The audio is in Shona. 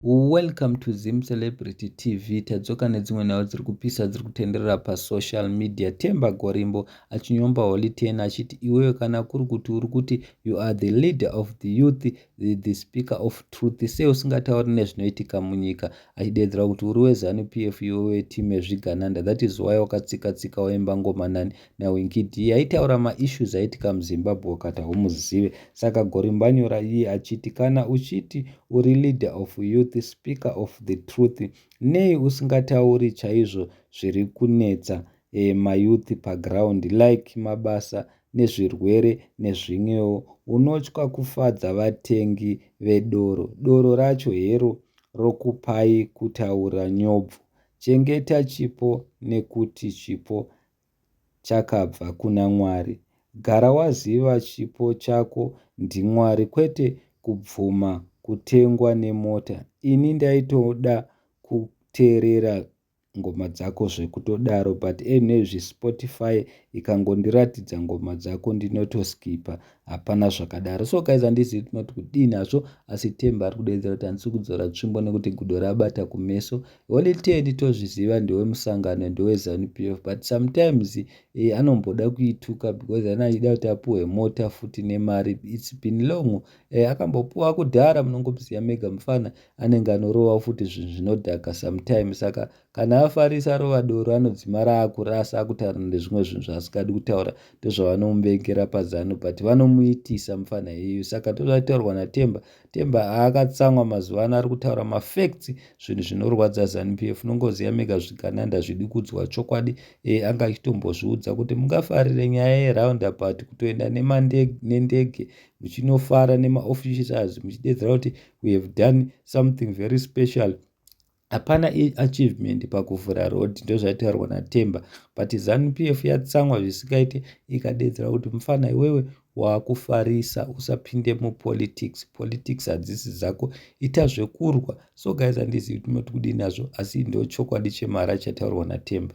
Welcome to Zim Celebrity TV. Tadzoka nedzimwe nhau dziri kupisa dziri kutenderera pasocial media. Temba Gorimbo achinyomba Holy Ten achiti iwewe kana kuri kuti uri kuti you are the leader of the youth, the, the speaker of truth, sei usingatauri nezvinoitika munyika achideedzera kuti uri weZanu PF iwewe time zvigananda that is why wakatsika tsika waimba ngoma nani naWinkid iye aitaura maissues aitika muZimbabwe wakati haumuzive saka Gorimbanyora iye achiti kana uchiti uri leader of youth speaker of the truth nei usingatauri chaizvo zviri kunetsa e, mayouth paground like mabasa nezvirwere nezvimwewo unotya kufadza vatengi vedoro doro racho hero rokupai kutaura nyobvu chengeta chipo nekuti chipo chakabva kuna Mwari. Gara waziva chipo chako ndiMwari kwete kubvuma kutengwa nemota. Ini ndaitoda kuteerera ngoma dzako zvekutodaro but anyway zvi Spotify ikangondiratidza ngoma dzako ndinotoskipper Hapana zvakadaro. So guys handizivi kuti mati kudini hazvo asi Themba ari kudeedzera kuti handisi kudzora tsvimbo nekuti gudo rabata kumeso. Holy Ten tozviziva ndewe musangano ndewe Zanu PF but sometimes eh, anomboda kuituka because ana achida kuti apuwe mota futi nemari. It's been long. Eh, akambopuwa kudhara munongomuziva mega mufana anenge anorova futi zvinhu zvinodhaka sometimes saka Kana afarisa arova doro anodzima raakura asi akutaura ndezvimwe zvinhu zvaasingadi kutaura ndozvavanomubengera pazanu but vanomuitisa mupfanha iyeyu saka ndozvaitaurwa naTemba Temba aakatsamwa mazuva ano ari kutaura mafacts zvinhu zvinorwadza zanu PF nongoziva mega zvigananda ndazvidi kudzwa chokwadi e anga achitombozviudza kuti mungafarire nyaya yeroundabout kutoenda nendege muchinofara nemaofficials muchidedzera kuti we have done something very special Hapana achievement pakuvhura road ndozvaitaurwa naTemba but zanu PF yatsamwa zvisingaite ikadedzera kuti mfana iwewe wakufarisa usapinde mupolitics politics hadzisi dzako ita zvekurwa so guys handizivi kuti moti kudii nazvo asi ndochokwadi chemara chataurwa naTemba